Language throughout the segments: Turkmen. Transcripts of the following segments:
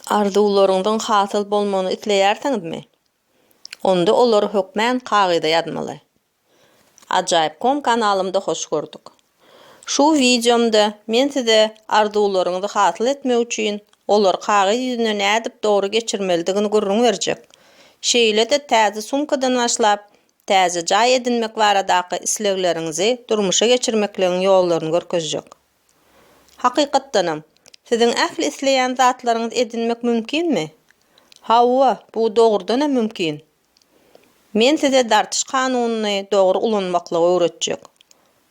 Arzuwlaryňyzyň hasyl bolmagyny isleýärsiňizmi? Onda olary hökmän kagyza ýazmaly. Ajaýyp kom kanalymda hoş gördük. Şu wideomda men size arzuwlaryňyzy hasyl etmek üçin olary kagyz ýüzüne nädip dogry geçirmelidigini gürrüň berjek. Şeýle-de täze sumkadan başlap, täze jaý edinmek baradaky islegleriňizi durmuşa geçirmekligiň ýollaryny görkezjek. Hakykatdanam, siziň ähli isleýän zatlaryňyzy edinmek mümkinmi? Hawa, bu dogrudanam mümkin. Men size dartyş kanunyny dogry ulanmaklygy öwretjek.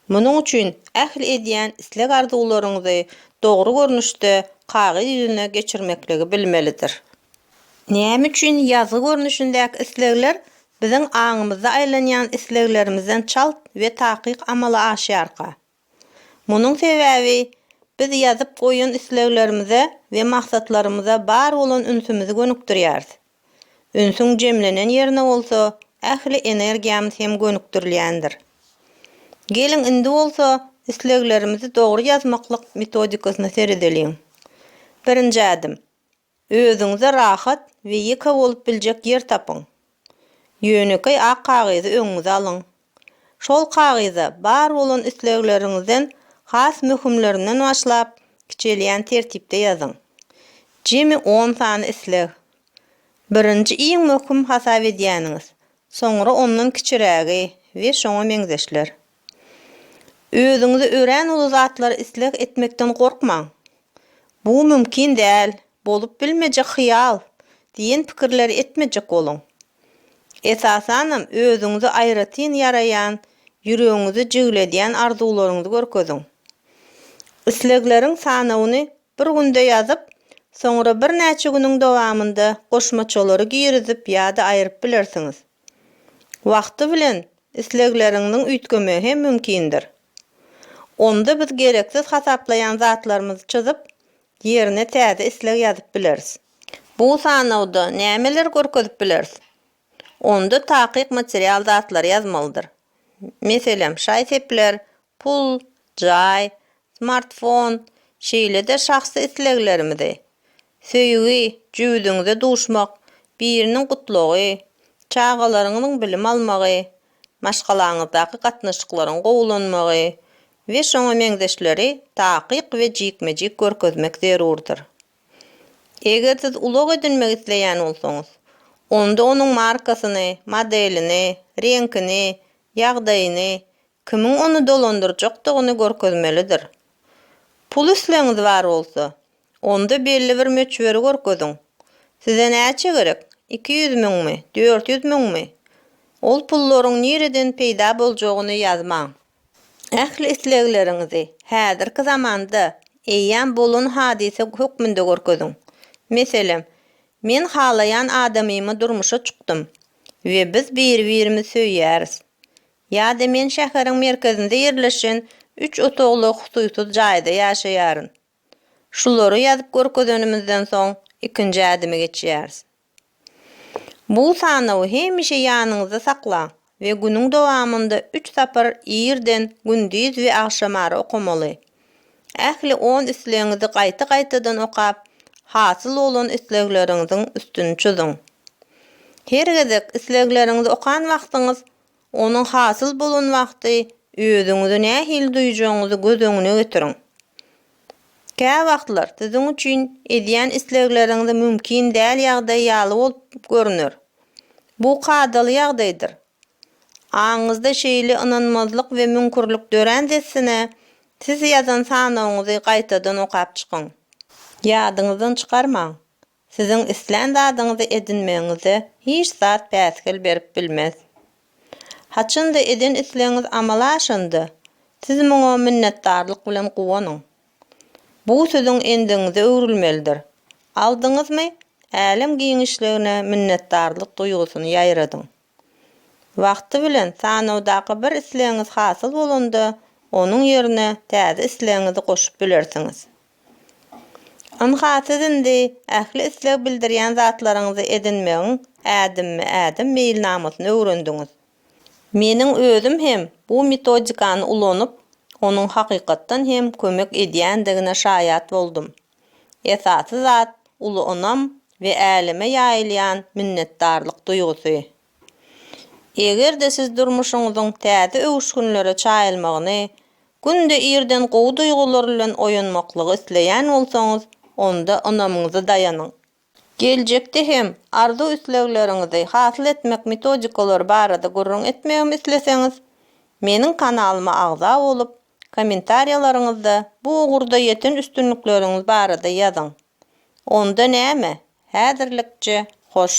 Munuň üçin ähli edýän isleg-arzuwlaryňyzy dogry görnüşde kagyz ýüzüne geçirmekligi bilmelidir. Näme üçin ýazgy görnüşindäki islegler biziň aňymyzda aýlanýan isleglerimizden çalt we takyk amala aşýarka? Munuň sebäbi, biz ýazyp goýan isleglerimize we maksatlarymyza bar bolan ünsümizi gönükdirýäris. Ünsüň jemlenen ýerine bolsa, ähli energiýamyz hem gönükdirilýändir. Geliň, indi bolsa, isleglerimizi dogry ýazmaklyk metodikasyna seredeliň. Birinji ädim, Özüňize rahat we ýeke bolup biljek ýer tapyň. Ýönekeý ak kagyzy öňüňize alyň. Şol kagyza bar bolan islegleriňizden has möhümlerinden başlap, kiçelýän tertipde ýazyň. Jemi on sany isleg. Birinji iň möhüm hasap edýäniňiz, soňra ondan kiçirägi we şoňa meňzeşler. Özüňize örän uly zatlary isleg etmekden gorkmaň. Bu mümkin däl, bolup bilmejek hyýal diýen pikirleri etmejek boluň. Esasanam özüňize aýratyn ýaraýan, ýüregiňizi jigledýän arzuwlaryňyzy görkeziň. Islegleriň sanawyny bir günde ýazyp, soňra birnäçe günüň dowamynda goşmaçalary girizip ýa-da aýryp bilersiňiz. Wagty bilen islegleriňiziň üýtgemegi hem mümkindir. Onda biz gereksiz hasaplaýan zatlarymyzy çyzyp, ýerine täze isleg ýazyp bileris. Bu sanawda nämeleri görkezip bileris? Onda takyk material zatlary ýazmalydyr. Meselem, şaý-sepler, pul, jaý, smartfon, şeýle-de şahsy isleglerimizi. Söýgi, jübüdiňize duşmak, biriniň gutlagy, çagalaryňyzyň bilim almagy, maşgalaňyzdaky gatnaşyklaryň gowulanmagy we şoňa meňzeşleri takyk we jikme-jik görkezmek zerurdyr. Eger siz ulag edinmek isleýän bolsaňyz, onda onuň markasyny, modelini, reňkini, ýagdaýyny, kimiň ony dolandyrjakdygyny görkezmelidir. Pul islegiňiz bar bolsa, Onda belli bir möçberi görkeziň. Size näçe gerek? Iki ýüz müňmi? Dört ýüz müňmi? Ol pullaryň nireden peýda boljagyny ýazmaň. Ähli islegleriňizi häzirki zamanda eýýäm bolan hadysa hökmünde görkeziň. Meselem, Men halaýan adamymy durmuşa çykdym we biz biri-birimizi söýýäris. Ýa-da Men şäheriň merkezinde ýerleşen üç otagly hususyz jaýda ýaşaýaryn. Şulary ýazyp görkezenimizden soň ikinji ädime geçýäris. Bu sanawy hemişe ýanyňyzda saklaň we günüň dowamynda üç sapar irden, gündiz we agşamara okamaly. Ähli on islegiňizi gaýta-gaýtadan okap, hasyl bolan islegleriňiziň üstüni çyzyň. Her gezek islegleriňizi okan wagtyňyz Onuň hasyl bolan wagty özüňizi nähili duýjagyňyzy göz öňüne getiriň. Käwagtlar siziň üçin edýän islegleriňizi mümkin däl ýagdaý ýaly bolup görner. Bu kadaly ýagdaýdyr. Aňyňyzda şeýle ynanmazlyk we müňkürlik dörän dessine, siz ýazan sanawyňyzy gaýtadan okap çykyň. Ýadyňyzdan çykarmaň. Siziň islän zadyňyzy edinmegiňize hiç zat päsgel berip bilmez. Haçanda eden islegiňiz amala aşanda, siz muňa minnetdarlyk bilen guwanyň. Bu siziň endigiňize öwrülmelidir. Aldyňyzmy, älem giňişligine minnetdarlyk duýgusyny ýaýradyň. Wagty bilen sanawdaky bir islegiňiz hasyl bolanda, onuň ýerine täze islegiňizi goşup bilersiňiz. Ynha, siz indi ähli isleg bildirýän zatlaryňyzy edinmegiň ädimme-ädim meýilnamasyny öwrendiňiz. Meniň özüm hem bu metodikany ulanyp, onuň hakykatdan hem kömek edýändigine şaýat boldum. Esasy zat uly ynam we äleme ýaýylýan minnetdarlyk duýgusy. Eger-de siz durmuşyňyzyň täze öwüşginlere çaýylmagyny, günde irden gowy duýgular bilen oýanmaklygy isleýän bolsaňyz, onda ynamyňyza daýanyň. Geljekde hem arzuw-islegleriňizi hasyl etmek metodikalary barada gürrüň etmegimi isleseňiz, meniň kanalyma agza bolup, kommentariýalaryňyzda bu ugurda ýeten üstünlikleriňiz barada ýazyň. Onda näme, häzirlikçe hoş!